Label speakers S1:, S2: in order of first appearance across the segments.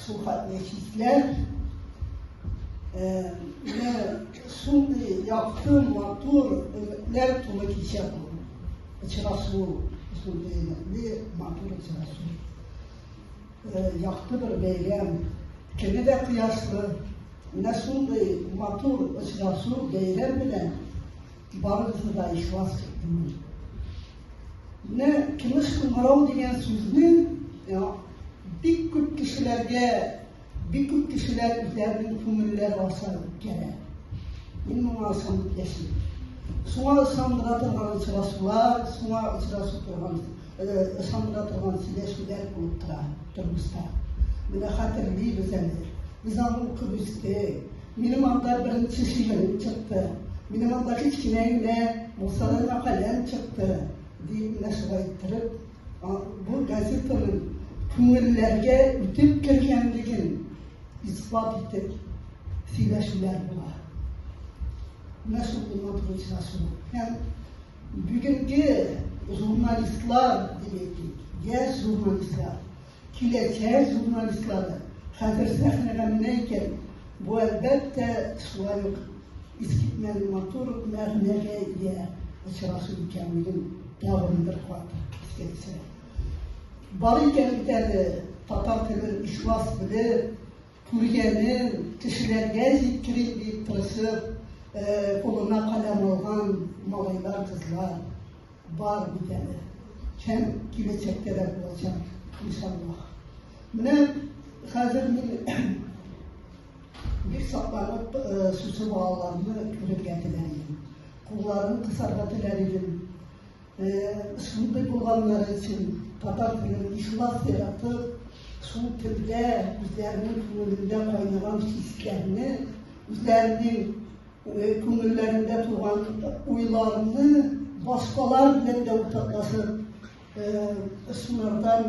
S1: Сухать нефтьләр менә шундый якты, матур өметләр тулы кичә бу. Очрашу шундый өметле, матур очрашу. Якты бер бәйрәм, көне дә кояшлы. Менә шундый матур очрашу, бәйрәм белән Барысы да ихлас түгел. Менә тыныч кыңгырау дигән сүзне бик күп кешеләргә, бик күп кешеләр үзләренең күңелләре аша үткәрә. Мин моңа ышанып яшим. Шуңа ышандыра торган очрашулар, шуңа очрашу торган, ышандыра торган сөйләшүләр булып тора тормышта. Менә хәтерлибез әле. Без аны укып үстек. Минем анда беренче шигырем чыкты. Минем анда кечкенә генә булсалар мәкаләм чыкты, дип менә шулай иттереп, бу газетаның күңелләргә үтеп кергәнлеген исбат итеп сөйләшүләр була. Менә шул булган турында шул. Һәм бүгенге журналистлар, димәк, яшь журналистлар, Киләчәк журналистлары хәзер сәхнәгә менә икән, бу, әлбәттә, шулай ук искитмәле матур мәгънәгә ия очрашу икәнлеген тагын бер кат искә төшерә. Бар икән бит әле татар телен ихлас белеп, Күргәнен кешеләргә җиткерим дип тырышып, кулына каләм алган малайлар, кызлар бар бит әле. Һәм киләчәктә дә булачак, иншаллаһ. Менә хәзер мин бик сакланып шушы балаларны күрергә теләр идем. Кулларын кысарга теләр идем. Шундый булганнары өчен татар телен ихлас яратып, шул телдә үзләренең күңелендә кайнаган хисләрне, үзләренең күңелләрендә туган уйларны башкалар белән дә уртаклашып, шулардан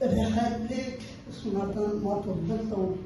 S1: рәхәтлек, шулардан матурлык табып